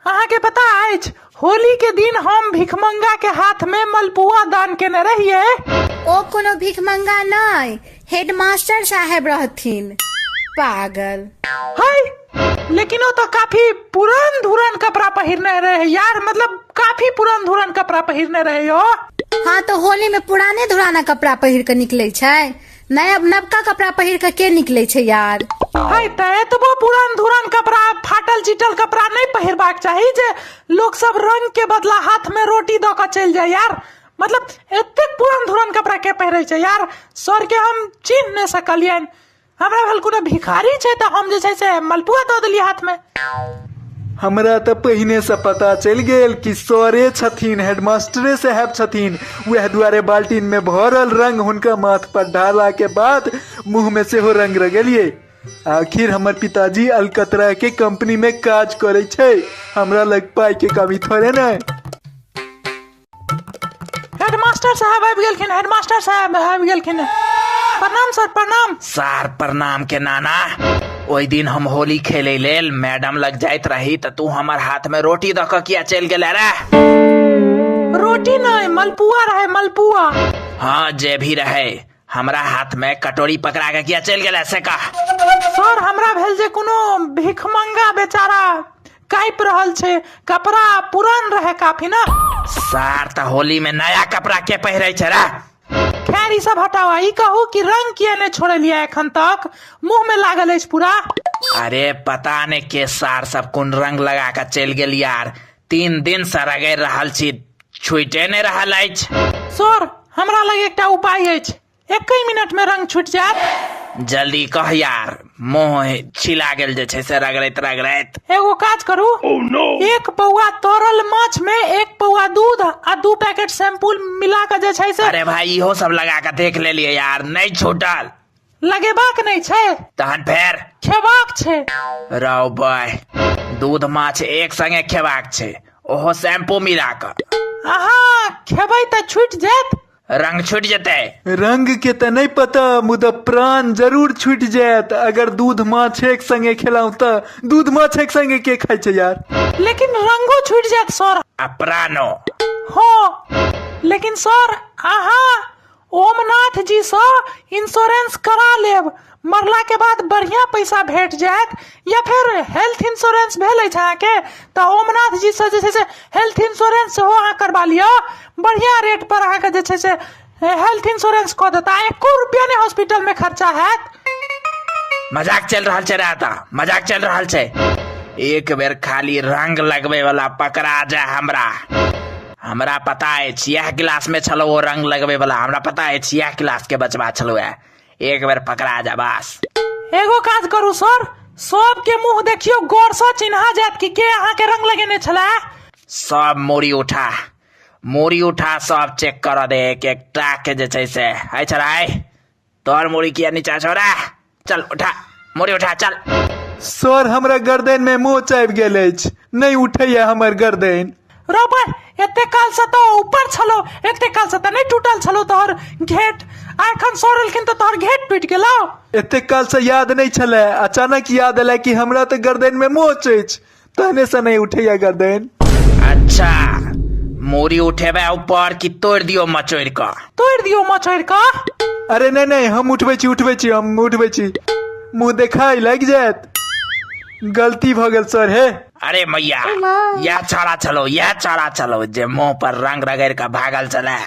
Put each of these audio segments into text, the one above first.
अहाँके पता अछि होली के दिन हम भिखमंगा के हाथ में मलपुआ दान केने रहिए ओ कोनो भिखमंगा नहि हेडमास्टर साहेब रहथिन पागल हाय लेकिन वो तो काफी पुरान धुरन कपड़ा पहिरने रहे यार मतलब काफी पुरान धुरन कपड़ा पहिरने रहे हो हाँ तो होली में पुराने धुराना कपड़ा पहिर के निकले छै नया नवका कपड़ा पहिर के के निकले छै यार है ते एतबो पुरान धुरान कपड़ा फाटल चिटल कपड़ा नहीं पहिरबाक चाही जे लोग सब रंग के बदला हाथ में रोटी दऽ कऽ चलि जाय यार मतलब एतेक पुरान धुरान कपड़ा के पहिरै छै यार सर के हम चिन्ह नहि सकलियनि हमरा भेल कोनो भिखारी छै तऽ हम जे छै से मलपुआ दऽ देलियै हाथ में हमरा तऽ पहिनेसँ पता चलि गेल कि सरे छथिन हेडमास्टरे साहेब छथिन उएह दुआरे बाल्टीनमे भरल रंग हुनका माथ पर ढारलाके बाद मुँहमे सेहो रंग रगेलियै आखिर हमर पिताजी अलकतरा के कंपनी में काज करे छै हमरा लग पाई के कमी थोड़े नहीं हेडमास्टर साहब आबि गेलखिन हेडमास्टर साहब आबि गेलखिन प्रणाम सर प्रणाम सार प्रणाम के नाना ओहि दिन हम होली खेले लेल मैडम लग जाइत रही तऽ तू हमर हाथ में रोटी दऽ कऽ किया चलि गेले रे रोटी नहि मलपुआ रहै मलपुआ हाँ जे भी रहे हमरा हाथ में कटोरी पकड़ा के किया चल गेला से कह सर हमरा भेल जे कोनो भिखमंगा बेचारा काइप रहल छै कपड़ा पुरान रहे काफी ना सार त होली में नया कपड़ा के पहिरे छै रे खैर ई सब हटावा ई कहू कि रंग किया ने छोड़लिया एखन तक मुंह में लागल अछि पूरा अरे पता ने के सार सब कोन रंग लगा के चल गेल यार तीन दिन से रगड़ि रहल छी छूटे नहि रहल अछि सर हमरा लग एकटा उपाय अछि एकहि मिनट में रंग छूट जायत जल्दी कह यार मोह छिला गेल जे छै से रगड़ैत रगड़ैत एगो काज करू एक पौआ तरल माछ में एक पौआ दूध आ दू पैकेट शैम्पूल मिला के जे छै से अरे भाई इहो सब लगा के देख लेलिए यार नहि छूटल लगेबाक नहि छै तहन फेर खेबाक छै राव बाय दूध माछ एक संगे खेबाक छै ओहो शैम्पू मिला कऽ अहाँ खेबै तऽ छुटि जायत रंग छूट जेतै रंग के तऽ नहि पता मुदा प्राण जरूर छूटि जायत अगर दूध माछ एक संगे खेलहुँ तऽ दूध माछ एक संगे के खाइ छै यार लेकिन रंगो छुटि जायत सर आ प्राणो हँ लेकिन सर अहाँ ओमनाथ जी सँ इंश्योरेंस करा लेब मरला के बाद बढ़िया पैसा भेट जायत या फिर हेल्थ इंश्योरेंस भेल अछि अहाँके तऽ ओमनाथ जी सँ जे छै से हेल्थ इंश्योरेंस सेहो अहाँ करबा लिअ बढ़िया रेट पर अहाँके जे छै से हेल्थ इंश्योरेंस कऽ देता एको रुपया नहि हॉस्पिटल में खर्चा हैत मजाक चल रहल छै राता मजाक चल रहल छै एक बेर खाली रंग लगबे वाला पकड़ा जा हमरा हमरा पता अछि इएह क्लासमे छलहुँ ओ रङ्ग लगबैवला हमरा पता अछि इएह क्लासके बचबा छलहुँ ए एक बेर पकड़ा जा बस एगो काज करू सर सबके मुंह देखियो गौर से चिन्हा जायत कि के अहाँ के रंग लगेने छला सब मूड़ी उठा मूड़ी उठा सब चेक कर दे एक एक टाक जे छै से है छराय तोर मुड़ी किया नीचा छोड़ा चल उठा मुड़ी उठा चल सर हमरा गर्दन में मोच आबि गेल अछि नहि उठैए हमर गर्दन रोबर एते काल से तो ऊपर छलो एते काल से तो नहीं टूटल छलो तोहर घेट आ एखन सोरलखिन तो तोहर घेट टूट गेलो एतेक कालसँ याद नहि छलए अचानक याद एलए कि हमरा तऽ गर्दनमे मोच अछि तो हमेशा नहीं उठेगा गर्दन अच्छा मूरी उठेबे ऊपर कि तोड़ दियो मचोड़ का तोड़ दियो मचोड़ का अरे नहीं नहीं हम उठबे छी उठबे छी हम उठबे छी मुंह देखाई लग जात गलती भ गेल सर हे अरे मैया यह छड़ा चलो यह छड़ा चलो जे मुंह पर रंग रगड़ का भागल चले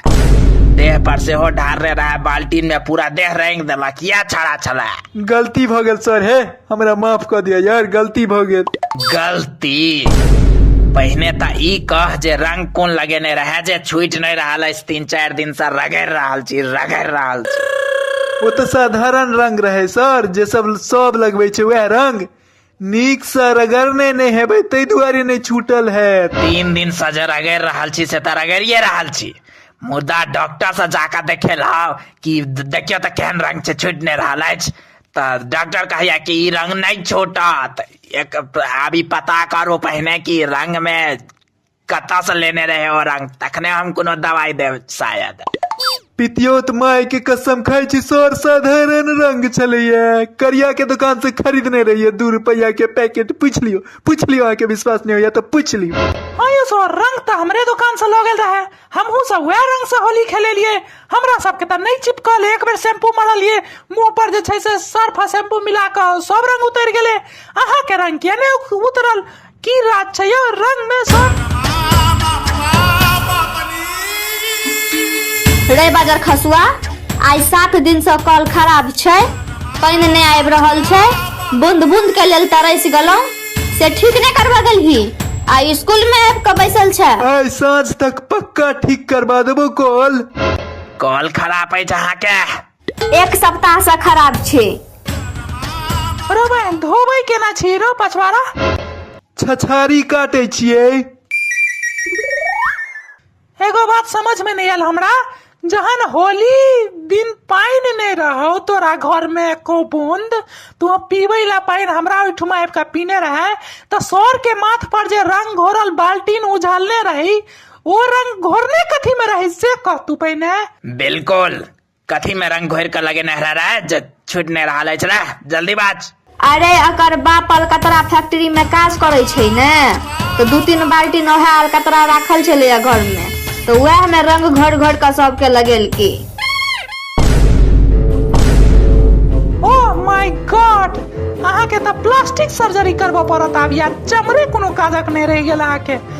देह पर से हो ढार रहे रहा बाल्टीन में पूरा देह रंग देलक यह छड़ा चले गलती भ गेल सर हे हमरा माफ कर दिया यार गलती भ गेल गलती पहिने त ई कह जे रंग कोन लगेने रहे जे छूट नहीं रहल अछि तीन चार दिन से रगड़ रहल छी रगड़ रहल छी वो तो साधारण रंग रहे सर जे सब सब लगबे छै वह रंग नीक से रगड़ने नहीं हेबै ताहि दुआरे नहीं छूटल है तीन दिन से जे रगड़ रहल छी से त रगड़िए रहल छी मुदा डॉक्टर से जाकर देखेलहुँ कि देखियो त केहन रंग छै छूट नहीं रहल अछि तऽ डॉक्टर कहैया कि ई रंग नहि छूटत एक आब ई पता करू पहिने कि रंग मे कतऽ से लेने रहे ओ रंग तखने हम कोनो दवाई देब शायद पितियोत माय के कसम खाय छी सर साधारण रंग छलैया करिया के दुकान से खरीदने रहिए दू रुपया के पैकेट पूछ लियो पूछ लियो अहाँ के विश्वास नहीं होया तो पूछ लियो आयो सर रंग तऽ हमरे दुकान से लऽ गेल रहे हमहू सब वएह रंग से होली खेलेलिए हमरा सबके तऽ नहि चिपकल एक बेर शैम्पू मरलिए मुंह पर जे छै से सर्फ आ शैम्पू मिला कऽ सब रंग उतर गेले अहा के रंग किया ने उतरल की रात छै यो रंग में सब रे बाजार खसुआ आइ सात दिन से कल खराब छै पानि नहि आबि रहल छै बूंद बूंद के लेल तरसि गेलहुँ से ठीक नहीं करवा गल ही आ स्कूल में आब के बैसल छै आइ साँझ तक पक्का ठीक करबा देबो कॉल कॉल खराब अछि अहाँके एक सप्ताह से खराब छै रो बहन धोबै केना छी रो पछवाड़ा छछारी काटै छियै एगो बात समझ में नहीं आयल हमरा जहन होली दिन पानि नहीं रहो तोरा घर में एको बूंद तू पीबे ला पानि हमरा ओहिठुमा आबि कऽ पीने रहे तऽ सर के माथ पर जे रंग घोरल बाल्टीन उझलने रही ओ रंग घोरने कथी में रही से कह तू पहिने बिल्कुल कथी में रंग घोर के लगेने हरा रे जे छूट नहीं रहा अछि रे जल्दी बाज अरे अकर बाप अलकतरा फैक्ट्री में काज करे छै ने तो दू तीन बाल्टी नहा अलकतरा राखल छले घर में तो वह में रंग घोर घोर के सबके लगेलकी ओ माय गॉड अहाँके तऽ प्लास्टिक सर्जरी करबऽ पड़त आब या चमड़े कोनो काजक नहि रहि गेल अहाँके